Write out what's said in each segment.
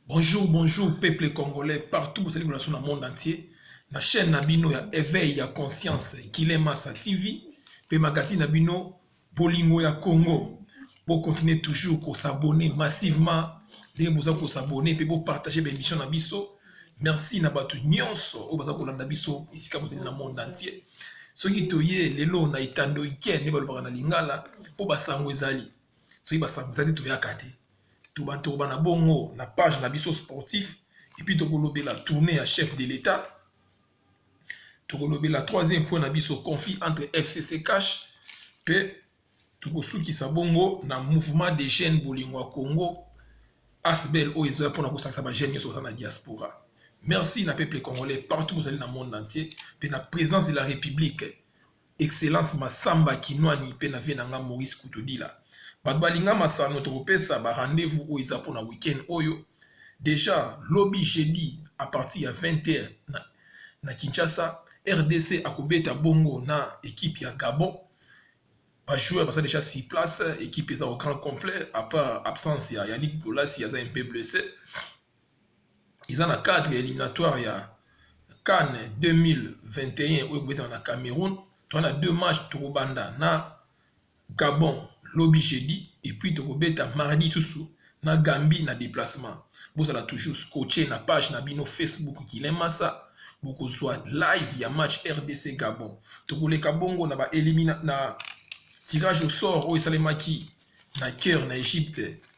Bonjour, bonjour peuple congolais partout bozali kolakisa na monde entier na chaîne na bino ya éveil ya conscience Guilain Massa TV pe magazine na bino Bolingo ya Congo. Bo continuer toujours ko s'abonner massivement ndenge boza ko s'abonner pe bo partager ba émission na biso. Merci na bato nyonso oyo baza kolanda biso esika bozali na monde entier. Soki toye lelo na etando ike nde balobaka na lingala po basango ezali. Soki basango ezali toyaka te. tobatoroba na bongo na page na biso sportif epuis tokolobela tournée ya chef de l'etat tokolobela troisième point na biso conflit entre fcc cash mpe tokosukisa bongo na mouvement de jeune bolingo ya congo asbel oyo ezoya mpona kosangisa bajeune nyonso baza na diaspora merci na peuple congolais partout bozali na monde entier mpe na présidence de la république Excellence Massamba Kinuani pe na vieux na nga Maurice Kutodila. Bato balinga masano tokopesa ba rendez-vous oyo eza pona week-end oyo. Dejà lobi jeudi à partir ya 20 heures na, na Kinshasa, rdc akobeta bongo na equipe ya Gabon. Ba joueurs baza dejà sur place, equipe eza au grand complet à part absence ya Yannick Bolasie aza un peu blesse. eza na cadre ya éliminatoire ya CAN 2021 oyo ekobetama na Cameroun toa na deux match tokobanda na Gabon lobi jeudi epuis tokobeta mardi susu na Gambie na déplacement bozala toujours scotché na page na bino Facebook Guilain Massa bokozwa live ya match RDC Gabon tokoleka bongo na ba elimina na tirage au sort oyo esalemaki na cœur na Egypte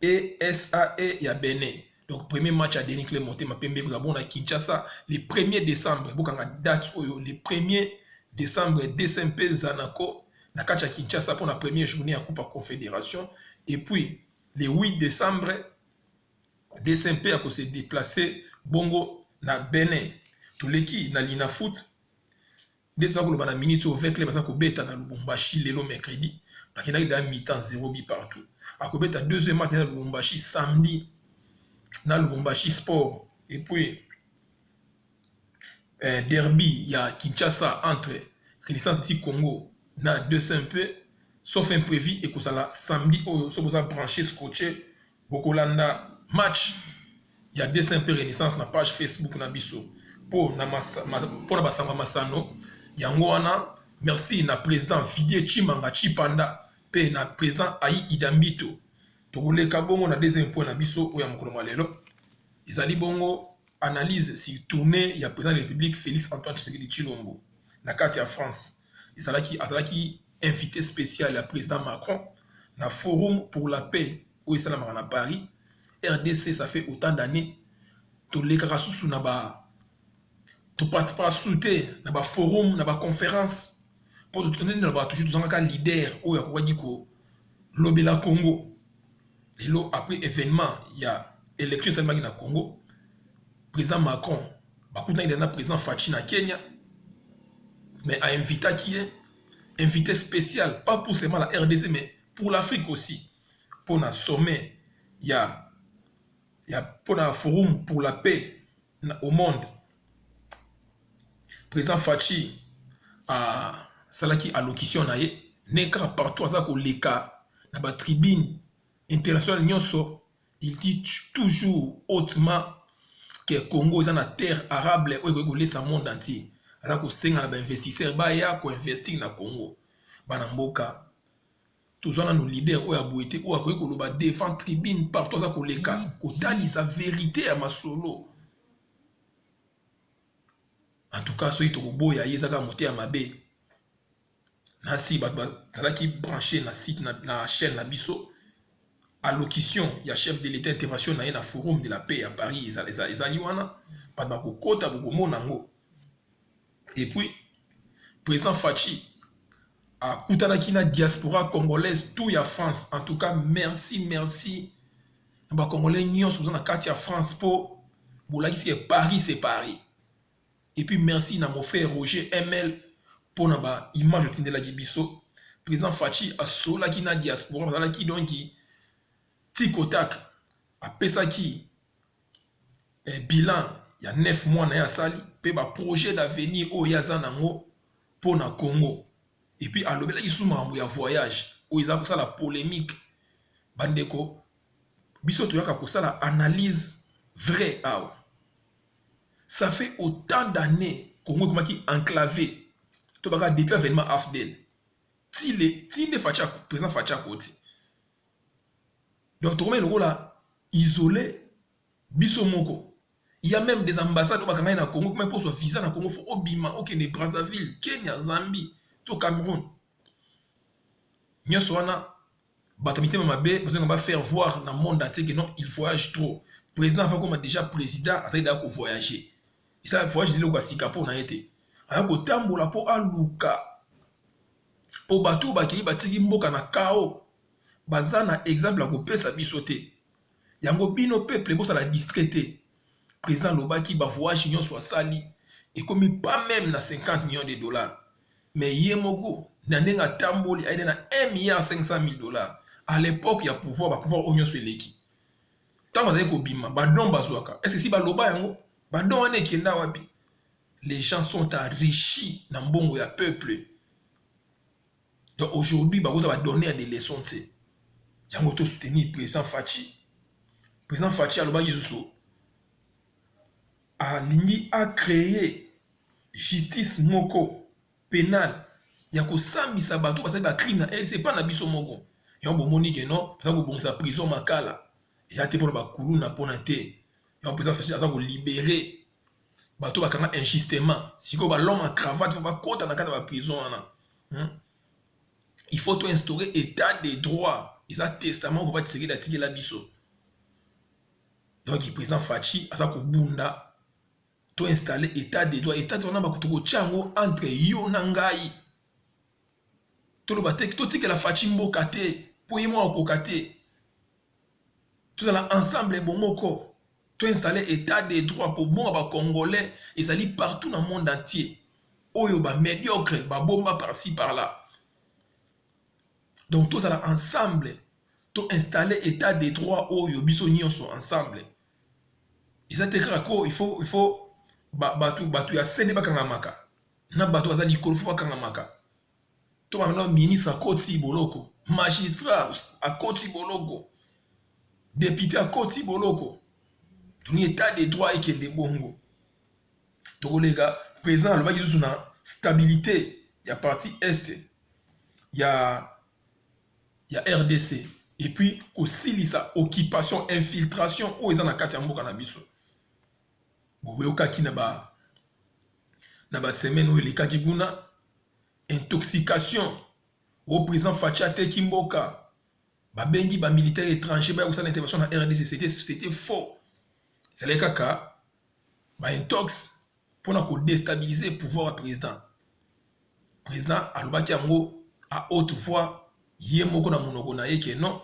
ESAE ya Benin. Donc premier match ya Denis Clay Motema Pembe ekozala bongo na Kinshasa le 1er décembre. Bokanga date oyo le 1er décembre DCMP Zanaco na kati ya Kinshasa mpo na première journée ya Coupe Confédération et puis le 8 décembre DCMP ako se déplacer bongo na Benin. Toleki na Linafoot nde toza koloba na minute oyo vecle baza kobeta na lubumbashi lelo mercredi bakendaki da mitan zero bi partout akobeta deuxième match na lubumbashi samedi na lubumbashi sport et puis eh, derby ya kinshasa entre renaissance ti congo na 200 mpe sauf imprévu ekozala samedi oyo soki oza branche scotche Bokolanda match ya dessin mpe renaissance na page facebook na biso mpo na, masa, mas, mpo na basango ya masano yango wana merci na président vidie chimanga chipanda mpe na président ai idambito tokoleka bongo na deuxième point na biso oyo ya mokolo mwa lelo ezali bongo analyse si tournée ya président de république félix antoine tshisekedi chilombo na kati ya france ezalaki azalaki invite special ya president Macron na forum pour la paix oyo esalamaka na Paris RDC ça fait autant d'années tolekaka susu na ba toparticipaka susu te na ba forum na ba conférence mpo totoneli na bato ju tozangaka leader oyo akokaki kolobela congo lelo après événement ya élection esalemaki na congo président macron bakutaki na président faci na kenya mais ainvitaki ye invite special pas pour seulement la RDC mais pour l'Afrique aussi pour na sommet ya ya pour na forum pour la paix na, au monde président Fatshi a salaki allocution na ye ne kaka partout aza koleka na ba tribune international nionso il dit toujours hautement que Congo eza na terre arable oyo ekoki kolesa monde entier aza kosenga na bainvestisseur baya koinvestir na Congo bana mboka tozwa nanu leader oyo ya boye te oyo akoki koloba devant tribune partout aza koleka kotalisa verite ya masolo en tout cas soki tokoboya ye ezaka mote ya mabe na si bato bazalaki branche na site na, na chaîne na biso allocution ya chef de l'état intervention na ye na forum de la paix ya paris ezali eza, eza, eza wana bato bakokota bokomona yango epuis président fachi akutanaki na diaspora congolaise tout ya france en tout cas merci merci na bacongolais nyonso boza na kati ya france mpo bolakisi ke paris se paris Et puis merci na mon frère Roger ML mpo na ba image otindelaki biso. Président Fatshi asolaki na diaspora bazalaki donc tic au tac apesaki eh, bilan ya 9 mois na ye asali mpe ba projet d'avenir oyo ye aza nango mpo na Congo. Et puis alobelaki su makambo ya voyage oyo eza kosala polemique bandeko biso toyaka kosala analyse vrai awa ça fait autant d'annees Congo ekomaki enclave to baka depuis avènement AFDL ti le ti nde Fatshi président Fatshi akoti donc tokomaki lokola isolé biso moko il y a même des ambassades oyo bakangaki na Congo ekomaki kozwa visa na Congo fo obima okende Brazzaville Kenya Zambie to Cameroun nyonso wana bato mitema mabe bazonga ba faire voir na monde entier que non il voyage trop président afa koma déjà président azali daya kovoyage esa voyage ezali lokola sika mpo na ye te aya kotambola mpo aluka mpo bato oyo bakei batiki mboka na kao baza na exemple ya kopesa biso te yango bino peuple bosala distrait te président alobaki bavoyage nyonso asali ekomi pas meme na 50 millions de dollars Mais ye moko na ndenge atamboli aide na 1 milliard 500 mille dollars à l'époque ya pouvoir ba pouvoir oyo nyonso eleki ntango azali kobima badon bazwaka est ce si baloba yango badon wana ekenda wapi les gens sont enrichis na mbongo ya peuple donc aujourd'hui bakoza badonner ya des leçons te yango to soutenir président faci président faci alobaki lisusu alingi a creer justice moko penale ya kosambisa bato basali ba crime na LC pa na biso moko yango bomoni ke non aza kobongisa prison makala eya te mpona bakuluna mpona te yango mpenza fasi aza kolibere bato bakanga injustement sikoyo balome ya cravate fo bakota na kati ya baprison wana hmm? il faut toinstaure état de droit eza testament papa tisekedi atikela biso donc président Fatshi aza kobunda to installer état de droit état de droit na bakutu kotya yango entre yo na ngai toloba te totikela Fatshi mboka te mpo ye moko akoka te tozala ensemble bomoko to installer état de droit mpo bonga ba congolais ezali partout na monde entier oyo ba médiocre babomba par ci par là donc tozala ensemble to installer etat de droit oyo biso nyonso ensemble eza te kaka ko il faut il faut bato bato ya sende bakangamaka na bato baza likolo fo bakangamaka to bamana ministre akoti boloko magistrat akoti boloko depute akoti boloko toni etat de droit ekende bongo tokoleka président alobaki lisusu na stabilité ya parti est ya ya rdc et puis kosilisa occupation infiltration oyo eza na kati ya mboka na biso boyokaki na ba na ba semaine oyo elekaki kuna intoxication o président faci ateki mboka babengi bamilitaire étranger baya kosala intervention na rdc c'était faux ezalaki kaka baintox mpona kodestabilize pouvoir ya président president alobaki yango a haute voix ye moko na monoko na ye ke non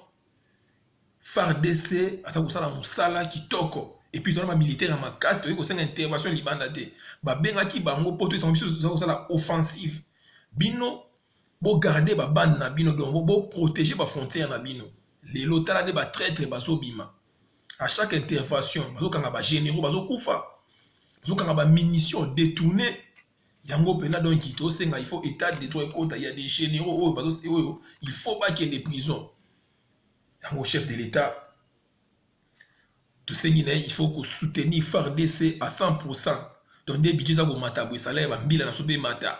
fardc aza kosala mosala kitoko epuis tona bamilitaire ya makasi toyei kosenga intervention libanda te babengaki bango mpo toyesanga biso toza kosala offensive bino bogarde babande na bino donc boprotege bafrontière na bino lelo tala nde batraitre bazobima à chaque intervention bazokanga bagénéraux bazokufa bazokanga bamunition détourne yango mpena donc tosenga il faut état de droit ekota ya des généraux oyo bazosi oyo il faut bakende prison yango chef de l'état tosengi na ye il faut kosoutenir fardc à 100 pourcent donc nde budget eza komata boye sala ya bambila na biso mpe emata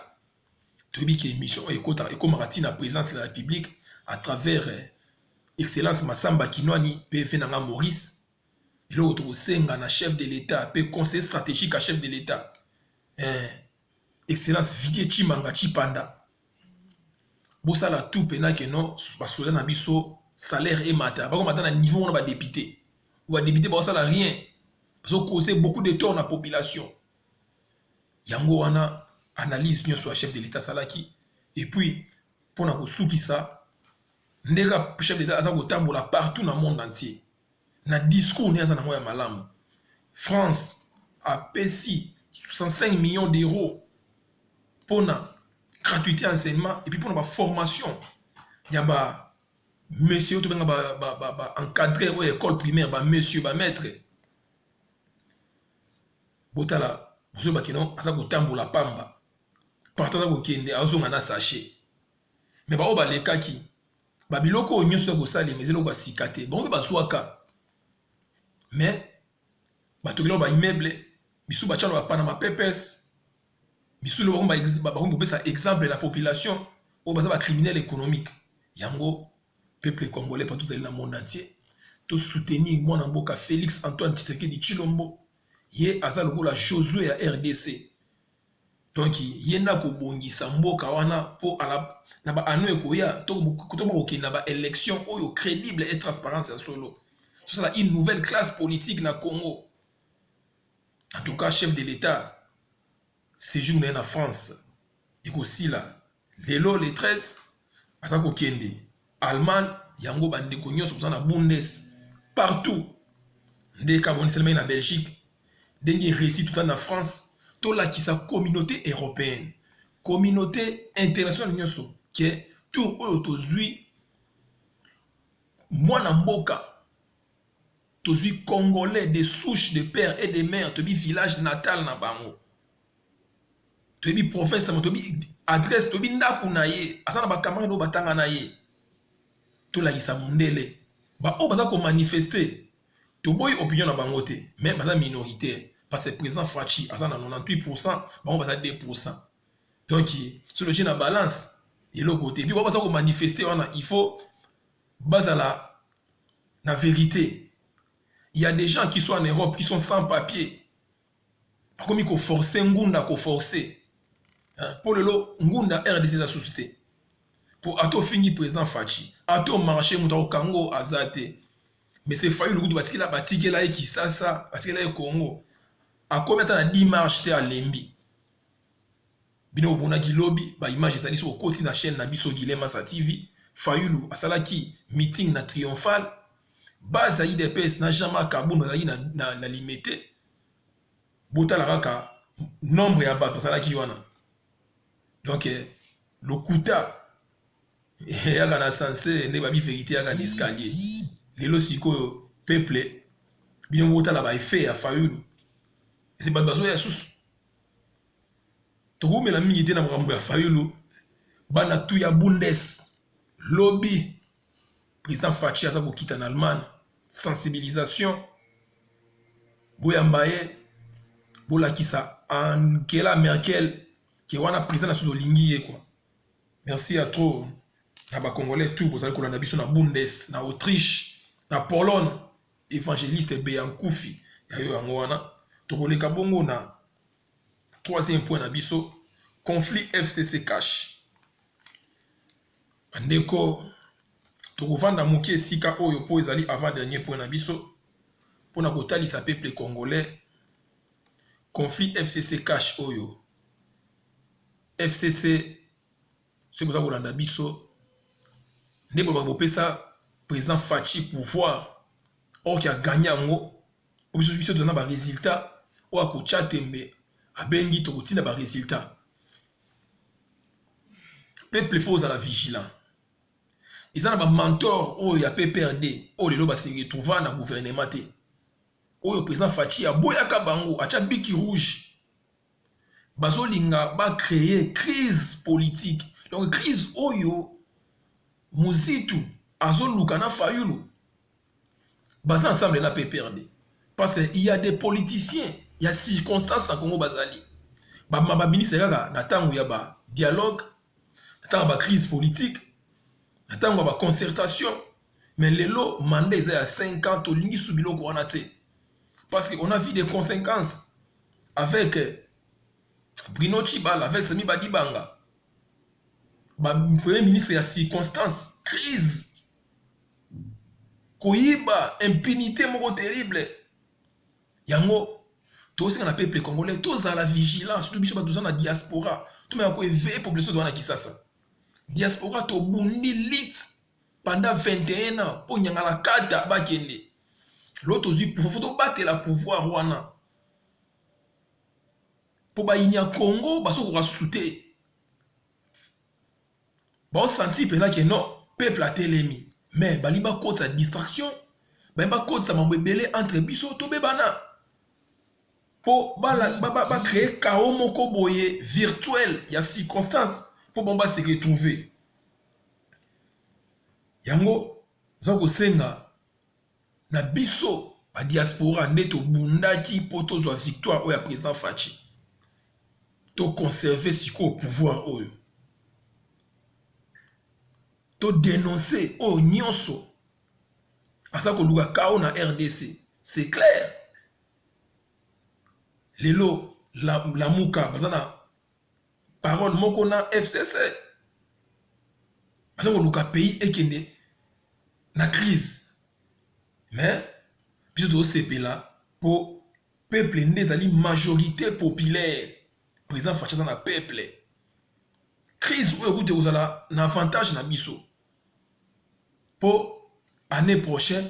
toyebi ke émission oyo ekotaka ekomaka ntina présence ya la république à travers eh, excellence masamba kinwani mpe mpe na nga maurice eloko tokosenga na chef de l'état mpe conseil stratégique ya chef de l'état eh, excellence vidie chimanga chipanda bosala tout pena ke non basoda na biso salaire emata bakomata na niveau wana badepute badepute baosala rien bazokose beaucoup de tort na population yango wana analyse nyonso ya chef de l'état asalaki epuis mpo na kosukisa ndenge chef de l'état aza kotambola partout na monde entier na discours ne aza nango ya malamu France apesi 65 millions d'euros pona gratuité ya enseignement epuis pona ba formation ya ba monsieur oyo tobenga ba, ba, ba, ba encadreur oyo école primaire ba monsieur ba maître botala bozo bakino aza kotambola pamba partout aza kokende azonga na sachet me baoyo balekaki babiloko oyo nyonso ya kosalema eza eloko ya sika te bango mpe bazwaka me batokela baimmeuble bisu bacana bapana mapepes bisu lo bakomi kopesa exemple na population oyo baza bacriminel économique yango peuple congolais pa tozali na monde entier tosoutenir mwana mboka félix antoine tshisekedi tshilombo ye aza lokola josue ya rdc donc ye nde akobongisa mboka wana mpo na baano ekoya tokoma kokende na baélection oyo crédible et transparence ya solo tosala une nouvelle classe politique na congo en tout cas chef de l'état séjour na ye na france ekosila lelo le 13 aza kokende allemagne yango bandeko nyonso boza na bundes partout nde ekaboniselmaki na belgique ndenge eresi tota na france tolakisa communauté européenne communauté internationale nyonso ke tour oyo tozwi mwana mboka tozwi congolais de souche de père et de mère tobi village natal na bango toyebi province na bango toyebi adresse toyebi ndako na ye aza na bacamarade oyo batanga na ye tolakisa mondele baoyo baza komanifeste toboyi opinion na bango te mais baza minoritaire parce que président faci aza na 98 pourcent bango baza 2 pourcent donc soki otie na balance eloko te epuis bao baza komanifeste wana il faut bazala na vérité il y a des gens qui sont en europe qui sont sans papier bakomi ko forcer ngunda ko forcer hein? po lelo ngunda rdc eza susu te po ata ofingi président faci ata omarche moto akokango aza te mese fayulu kutu batikela batikela ye kisasa batikela ye congo akomi ata na 10 marche te alembi bino omonaki lobi ba image ezali soki okoti na chaîne na biso Guilain Massa TV Fayulu asalaki meeting na Triomphal base ya IDPS na Jean-Marc Kabund bazalaki na, na, na Limete botala kaka nombre ya bato bazalaki wana donc eh, lokuta eyaka eh, na sanse nde babi verité yaka na escalier lelo sikoyo peuple bino botala ba effet ya Fayulu ese bato bazoya susu tokoumela mingi te na makambo ya fayulu bana tu ya bundes lobi président faci aza kokita na allemagne sensibilisation boyamba ye bolakisa angela merkel ke wana président na susu olingi ye kua merci ya trop na bacongolais tu bozali kolanda biso na bundes na autriche na pologne evangeliste Beyankufi ya yo yango wana tokoleka bongo na troisième point na biso conflit fcc cash bandeko tokovanda moke esika oyo mpo ezali avant dernier point na biso mpo na kotalisa peuple congolais conflit fcc cash oyo fcc soki boza kolanda biso nde bolobaka bopesa président faci pouvoir or ki aganye yango po biso biso toza na baresultat oyo akotya tembe abengi tokotinda baresultat peuple fo ozala vigilant eza na bamantor oyo ya pprd oyo lelo base retrouva na gouvernement te oyo président faci aboyaka bango atya biki rouge bazolinga ba cree crise politique donc crise oyo muzitu azoluka na fayulu baza ensemble na pprd parce il y a des politiciens ya circonstance na congo bazali bamama baministre kaka na ntango ya ba dialogue na ntango ya ba crise politique na ntango ya ba concertation mais lelo manda eza ya 5 ans tolingi su biloko wana te parce que on a vu des conséquences avec euh, Bruno Chibala, avec Sami Badibanga, ba premier ministre ya circonstance, crise, koyiba, impunité moko terrible. Yango, tosenga na peuple congolais, tozala vigilant, surtout biso batoza na diaspora, tomeka ko éveiller population doana Kisasa. Diaspora tobundi lit pendant 21 ans, po nyangala kata bakende. lelo tozwi pouvoir fo tobatela pouvoir wana mpo bayini ya congo bazokoka susu te baosanti mpena ke non peuple atelemi mais balingi bakotisa distraction balingi bakotisa mambo ebele entre biso tobebana mpo bacreye ba, ba, kao moko boye virtuel ya circonstance mpo bango base retrouve yango eza kosenga Na biso ba diaspora nde tobundaki mpo tozwa victoire oyo ya president Fatshi. To conserver sikoyo pouvoir oyo. To denoncer oyo nyonso aza koluka kao na RDC. C'est clair. Lelo la, Lamuka baza na parole moko na FCC aza koluka pays ekende na crise mais biso tozosepela mpo peuple nde ezali majorité populaire président faci aza na peuple crise oyo ekuti ekozala na avantage na biso mpo année prochaine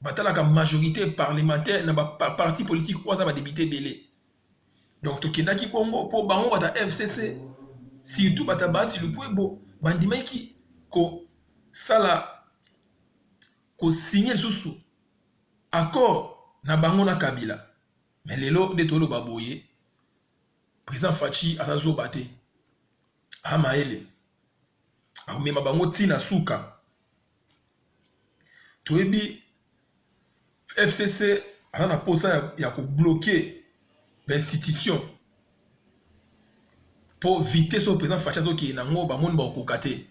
batalaka majorité parlementaire na ba parti politique oyo aza ba député ebele donc tokendaki bongo mpo bango bata fcc surtout bata baati lukwebo bandimaki kosala kosigne lisusu accord na bango na kabila me lelo nde toloba boye président faci aza zoba te amayele akomema bango ntina suka toyebi fcc aza na mposa ya, ya kobloke bainstitution mpo vitesse oyo président faci azokende nango bamoni bakokoka te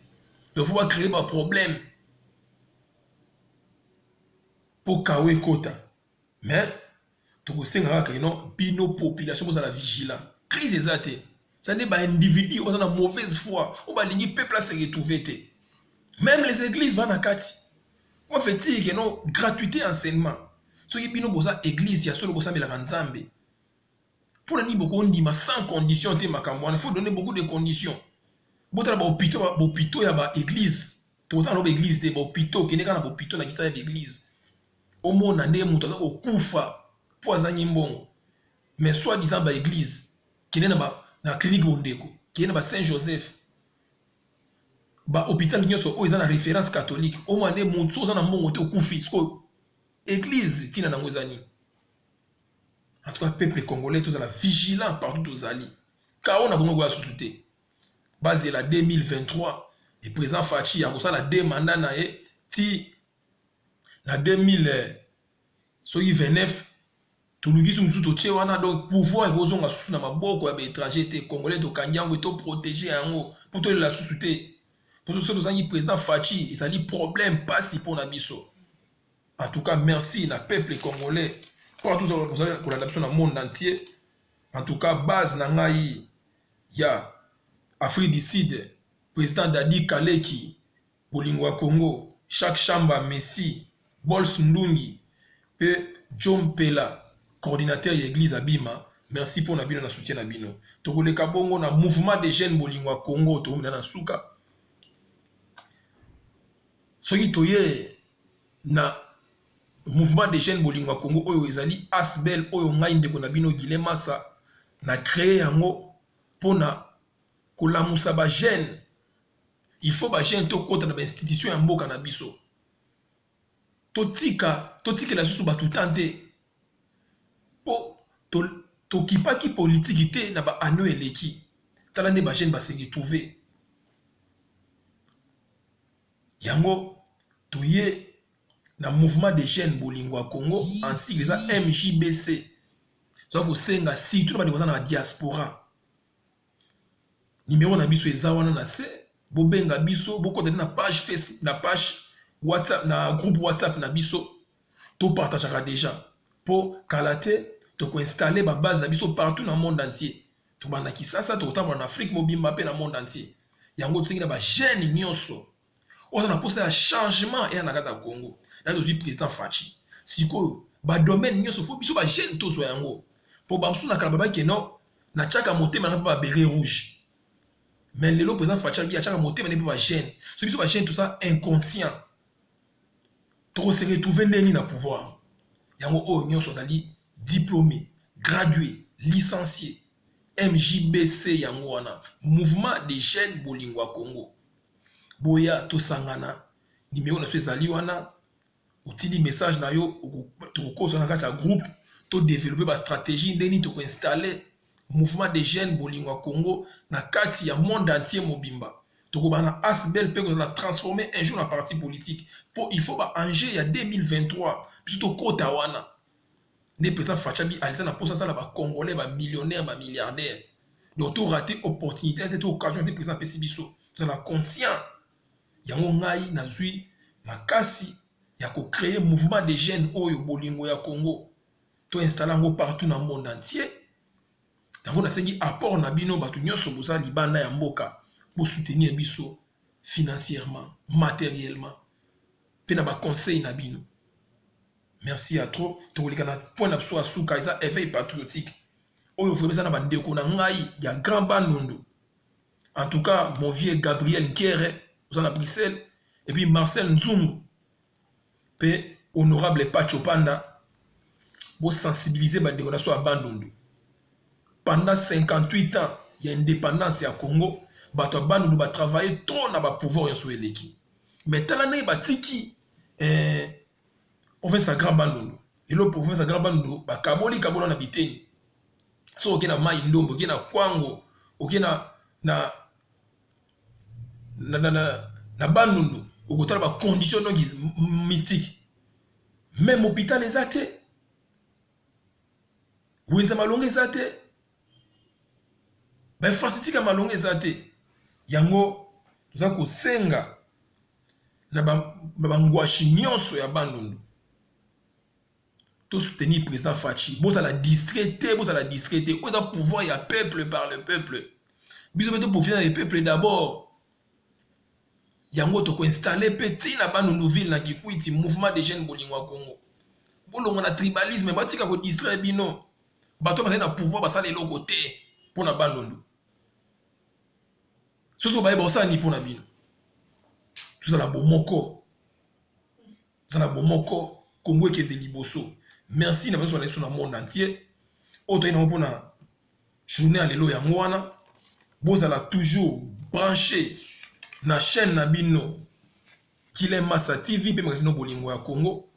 donc fo bacreye baproblème mpo kawa ekota mais tokosenga kaka ino bino population bozala vigilant crise eza te eza nde baindividu oyo baza na mauvaise foi oyo balingi peuple ase retrouve te même les églises bana kati moi fetire keno gratuité enseignement soki bino boza église ya solo bosambelaka nzambe mpo na nini bokondima sans condition te makambo wana faut donner beaucoup de conditions botala bahopito bahopito ya baeglise tokotala na baeglise te bahopito okende kaka na bahopito na kisa ya baeglise Omona nde moto aza kokufa mpo azangi mbongo mais soit disant ba eglise kende na, ba, na clinique bondeko kende na ba saint joseph ba hôpital nyonso oyo eza na référence catholique omona nde moto so oza na mbongo te okufi sikoyo eglise ntina nango eza nini en tout cas peuple congolais tozala vigilant partout tozali kao na kongo koya susu te bazela 2023 le président faci akosala de mandat na ye ti na 2029 toluki su mosusu totie wana donc pouvoir ekozonga susu na maboko ya baétranger te congolais tokangi yango e toprotege yango mpo tolela susu te mposo so tozangi président faci ezali problème mpasi mpo na biso en tout cas merci na peuple congolais mpo tozala kolanda biso na monde entier en tout cas base na ngai ya afrique du sud président dadi kaleki Bolingo ya Congo, Jacques Shamba, Messi, Bols Ndungi pe Djo Mpela coordinateur ya eglise abima, merci pona bino na soutien na bino. Tokoleka bongo na mouvement des jeunes Bolingo ya Congo tokomi na na suka. Soki toye na mouvement des jeunes Bolingo ya Congo oyo ezali Asbel oyo ngai ndeko na bino Guilain Massa na cree yango pona kolamusa ba jeunes il faut ba jeune tokota na ba institution ya mboka na biso totika totikela susu bato temps te mpo tokipaki to politiki te na ba anneau eleki tala nde ba jeune basengi trouve yango toye na mouvement de jeune bolingo ya congo ensigle eza mjbc toza kosenga surtout na bandeko baza na diaspora Numero na biso eza wana na se, bobenga biso, bokota na page Facebook, na page WhatsApp, na groupe WhatsApp na biso. To partageaka deja po kala te toko installer ba base na biso partout na monde entier. Tobanda Kisasa, tokotambola na Afrique mobimba pe na monde entier. Yango tosengi na ba jeunes nyonso oza na posa ya changement eya na kati ya Congo na tozwi president Fatshi sikoyo ba domaine nyonso fo biso ba jeune tozwa yango mpo bamosusu na kala babaki keno natyaka motema na mpe ba beret rouge mais lelo president Fatshi abi atyaka motema ne mpe ba jeune so biso ba jeune toza inconscient tokose retrouve ndeni na pouvoir yango oyo nyonso azali diplômé gradué licencié MJBC yango wana mouvement des jeunes bolingo ya Congo boya tosangana nimero na so ezali wana otindi message na yo tokokosa na kati ya groupe to développer ba stratégie nde nini toko installer mouvement des jeunes bolingo ya Congo na kati ya monde entier mobimba tokobana na asbel mpe kozala transformer un jour na parti politique mpo il faut ba enjeu ya 2023 biso tokota wana Nde president Fatshi abi alisa na posa sala ba congolais ba millionnaires ba milliardaires. Donc to rater opportunité ya te to occasion te president apesi biso. Tozala conscient. Yango ngai nazui makasi ya ko créer mouvement des jeunes oyo bolingo ya Congo. To installer yango partout na monde entier. Yango nasengi apport na bino bato nyonso boza libanda ya mboka bo soutenir biso financièrement, matériellement mpe na ba conseils na bino. merci ya trop tokoleka na point na biso ya suka eza éveil patriotique oyo vraiment eza na bandeko na ngai ya grand bandundu en tout cas mon vieux gabriel nkere oza na bruxelles et puis marcel nzungu mpe honorable pacho panda bosensibilize bandeko na biso ya bandundu pendant 58 ans ya indépendance ya congo bato ya bandundu batravaille trop na bapouvoir nyonso eleki mais tala ndenge batiki eh, province ya Grand Bandundu lelo province ya Grand Bandundu bakaboli kabola na biteni so oke na mai ndombo oke na kwango oke na na na, na, na, na Bandundu okotala ba conditions donc mystique même hôpital eza te wenza malonga eza te bainfrastructure ya malonga eza te yango toza kosenga na bangwashi ba nyonso ya bandundu to soutenir président faci bozala distrait te bozala distrait te oyo eza pouvoir ya peuple par le peuple biso mpe toprofite na le peuple d'abord yango tokoinstalle mpe ntina bandundu ville na kikwiti mouvement de jeune bolingo ya congo bolongo na tribalisme batika kodistraire bino bato bazali na pouvoir basala eloko te mpo na bandundu soso baye baosala nini mpo na bino tozala bomoko tozala bomoko kongo ekende liboso merci na banso balaiso na monde entier oyo toyei nango mpona journée ya lelo yango wana bozala toujours branché na chaîne na bino kile masa tv mpe magazine bolingo ya congo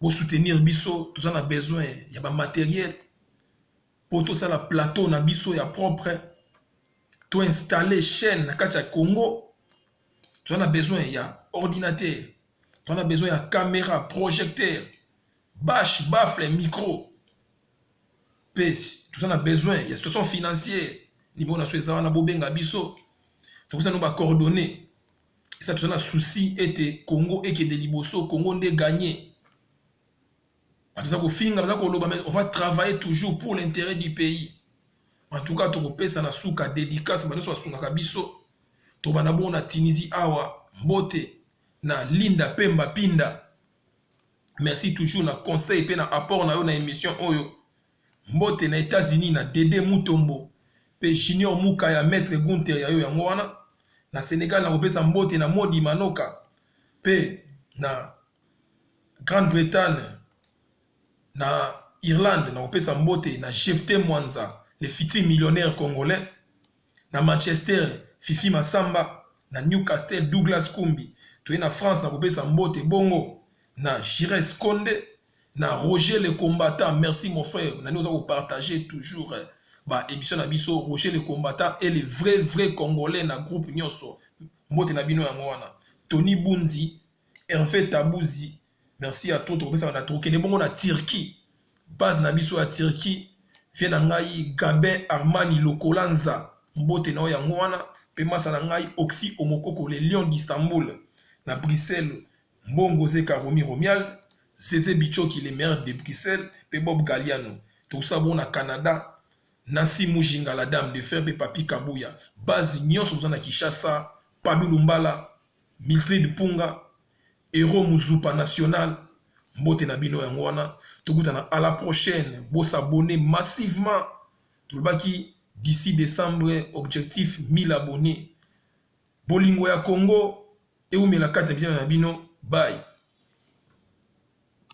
bosoutenir biso toza na besoin ya bamateriel po tosala plateau na biso ya propre to installer chaîne na kati ya Congo toza na besoin ya ordinateur toza na besoin ya camera projecteur bash baffle micro mpe toza na besoin ya situation financière niveau na so eza wana bobenga biso topesa no bacoordonnées esa toza na souci ete congo ekende liboso congo nde gagne baza kofinga baza koloba mais on va travailler toujours pour l'intérêt du pays en tout cas tokopesa na suka dédicace banyonso basungaka biso tobanda bongo na tunisie awa mbote na linda pemba pinda merci toujours na conseil mpe na apport na yo na émission oyo mbote na états-unis na dede mutombo mpe junior muka ya maître gunter ya yo yango wana na sénégal nakopesa mbote na modi manoka mpe na Grande Bretagne na Irlande na kopesa mbote na Jefte Mwanza le futur millionnaire congolais na Manchester Fifi Masamba na Newcastle Douglas Kumbi toye na France na kopesa mbote bongo na Gires Konde na Roger le combattant merci mon frère na oza ko partager toujours eh, ba émission na biso Roger le combattant et le vrai vrai congolais na groupe nyonso mbote na bino yango wana Tony Bunzi Herve Tabuzi, merci à toi, tokopesaka na tokende bongo na Turquie. Base na biso ya Turquie, vie na ngai Gabin Armani Lokolanza, mbote na yo yango wana, pe masa na ngai Oxy Omokoko, le lion d'Istanbul, na Bruxelles, Mbongo Zeka Romi Romial, Zeze Bichoki, le maire de Bruxelles, pe Bob Galiano. Tokosala bongo na Canada, Nancy Mujinga, la dame de fer, pe Papi Kabuya. Base nyonso boza na Kinshasa, Pabi Lumbala, Miltride Punga, Hero Muzupa National, mbote na bino yango wana tokutana à la prochaine bo s'abonner massivement tolobaki d'ici décembre objectif 1000 abonnés bolingo ya Congo ewumela kati na bitema na bino bye